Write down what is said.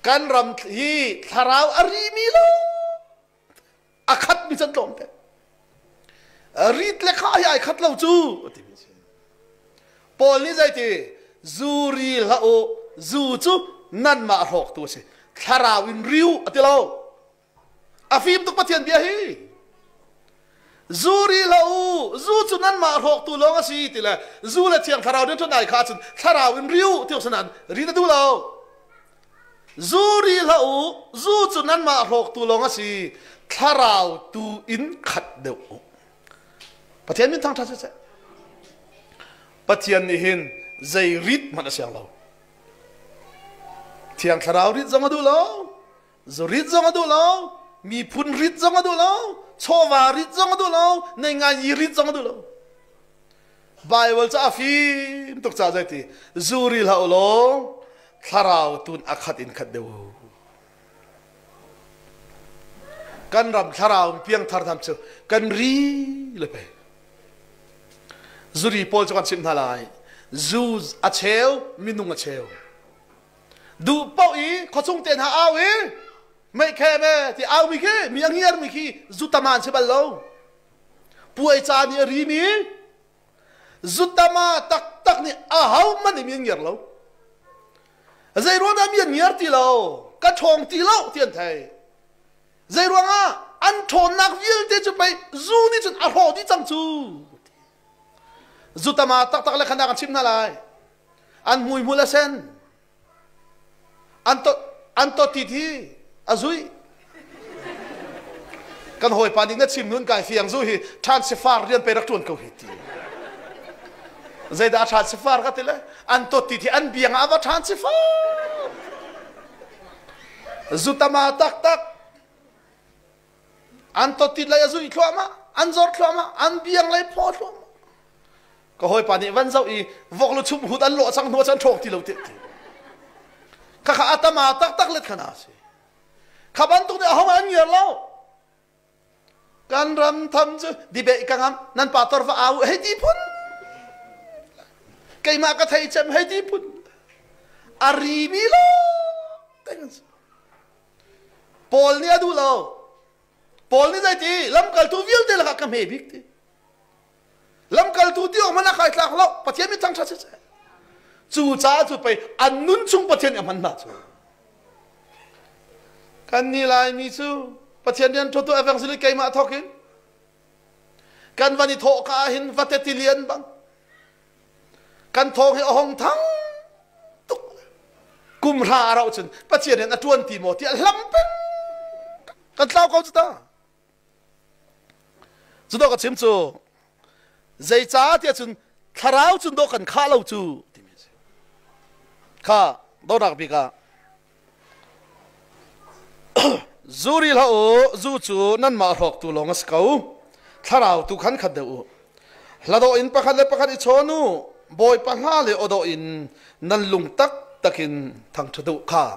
kan ram hi thlarau a rimi lo a khat mi can tlawm te rit le kha hi ai khat lo cu ti mi si paul nih zei ti zu ri hlah u zu cu nan mah rawk tu a si thlarau in riu a ti lo a fim tuk Pathian bia hi zu ri hlah u zu cu nanmah hrawktu lawng a si ti le zu le thiang thlarau din ṭhut nai kha cun thlarau in ri u ti u sanan ri na duh lo zu ri hlah u zu cu nanmah hrawktu lawng a si thlarau tu in khat deuh u pathian min thangṭha siseh pathian nih hin zei rit hmanh a siang lo thiang thlarau rit zong a duh lo Zurit zong a duh lo, miphun rit zong a duh lo, chawva rit zong a duh lo, neingaini rit zong a duh lo. Bible cu a fim tuk ca zai ti zuri hlah u law thlarau tun a khat in khat deuh. Kan ram thlarau piangthar tham cu kan ri le pe. Zuri pawl cu kan chimh hna lai. Zu a cheu, minung a cheu. duh paoh i khuachung te hna au i meikhem e ti au mi khi mi a ngiar mi khi zutama an si bal lo puai ca nih a ri mi zutama taktak nih a ho hmanh nih mi an ngiar lo zei ruang dah mi an ngiar ti lo ka ṭhawng ti lo ti an thei zei ruangah an ṭhawnnak vialte cu pei zu nih cun a hlawh dih cang cu Zutama taktak le khandak an chim hna lai. An hmui hmul a sen. An to an to ti thi a zui. Kan hawipa nih na chim nun kai fiang zu hi than sifar rian pe rak tuan ko hi ti. Zeidah than sifar ka ti le an to ti thi an biang ah va than sifar. Zutama taktak an totit lei a zuih thluahmah an zor thluahmah an biang lei phaw thluahmah ka hawipa nih van zoh i vok lu chum hut an lawh chang hnuah chan ṭhawk ti lo tiah khakha atama taktak let khana si kha bantuk nih ahong an ngiar lo kan ram tham cu dibeh ka ngam nan pa torfa au hei ti phun keimah ka thei cem hei ti phun ari mi lo teng Paul nih a duh lo. Paul nih zeiti lamkaltu vialte lakah ka hme bik ti. Lamkaltu ti awk hmanh a kai tlak lo. Pathian mit thangṭhat siseh. Cu caah cu pei an nun chung Pathian nih a hman hna cu. Kan nih Laimi cu Pathian rian ṭhutu evangelist keimah thawkin kan van i thawh ka ah hin vate tilian bang kan thawng hi a hong thang tuk kum hra a rauh cun pathian in a tuan ti maw ti a hlam peng kan tlau ko cu ta cu dawk a chim cu zeicah tiah cun thlarau cun daw kan khah lo cu timi a si kha donak bik ah Zu ril hlah u, zu cu nanmah hrawktu lawng a si ko. Thlarau tu khan khat deuh u. Hladawh in pakhat le pakhat i chawn u. Bawipa hna le aw dawh in nan lung taktak in thangṭhat u kha.